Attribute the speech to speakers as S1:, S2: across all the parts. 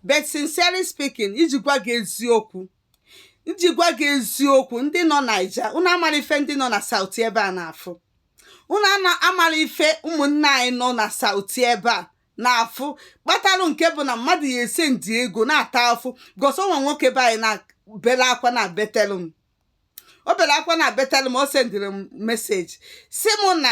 S1: but sincerely speaking iji gwa gị eziokwu iji gwa gị eziokwu ndị nọ Naija unu amara ife ndị nọ na South ebe a na-afụ unu amara ife ụmụnne anyị nọ na South ebe a na-afụ kpatalụ nke bụ na mmadụ ya-esendi ego na-ata afụ gosi onwe nwoke be anyị na-bele akwa na betelụ m o bere akwa na betelụ m o sendịrị m message si mụ na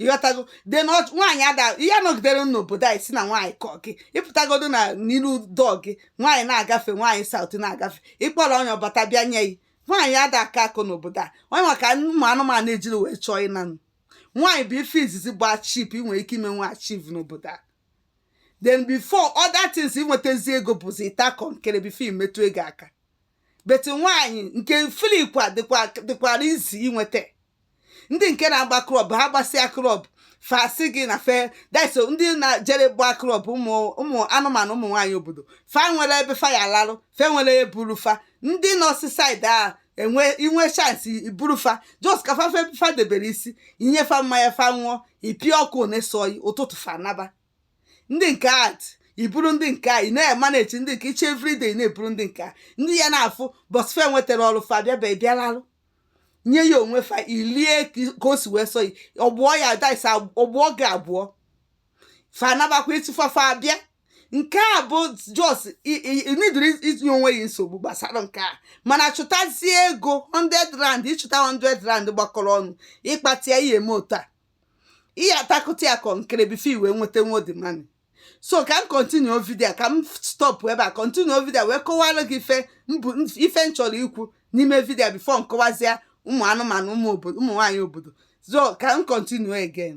S1: ị ghọtago de na ọ- nwaanyị ada ihe a nọgidere n'obodo a ị sị na nwaanyị kọ gị ị pụtagodu na n'iru door gị nwaanyị na-agafe nwaanyị South na-agafe ị kpọrọ onye ọ bata bịa nye gị nwaanyị ada akọ akọ n'obodo a onye maka ụmụ anụmanụ ejiri wee chọọ ịnanụ nwaanyị bụ ife izizi bụ achieve ị nwere ike ime nwa achieve n'obodo a then before other things inwetazi ego bụzi ịta kọnkere before i metụ ego aka but nwaanyị nke freekwa dịkwara easy inweta ndị nke na-agba club ha gbasịa club fa sị gị na fe deso ndị na-jere gba club ụmụ anụmanụ ụmụ nwaanyị obodo fa nwere ebe fa ya-alarụ fe nwere eburu fa ndị nọ seaside a enwe i nwee chance i buru fa just ka fa fa debere isi i nye fa mmanya fa ṅụọ ị pịa ọkụ na-asọ gị ụtụtụ fa naba ndị nke at iburu ndị nke a ị na-emanage ndị nke iche everyday na-eburu ndị nke a ndị ya na-afụ bọsfe nwetara ọrụ fa bịa bịa bịalalụ nye gị onwe fa i lie ka o si wee sọ gị ọ gbụọ ya days ọ gbụọ gị abụọ fa anabakwa ịtụfafa abịa nke a bụ just needirọ itinye onwe gị nsogbu gbasara nke a mana chụtazie ego 100 rand ị chụta 100 rand gbakọrọ ọnụ ịkpata ya ihe eme otu a ị ya-atakụta ya kọnkere before i wee nweta nwodi money so ka m continue video a ka m stop ebe a continue video a wee kọwara gị ife mbụ ife m chọrọ ikwu n'ime video a before m kọwazie ụmụ anụmanụ ụmụ obodo ụmụ nwaanyị obodo so ka m continue again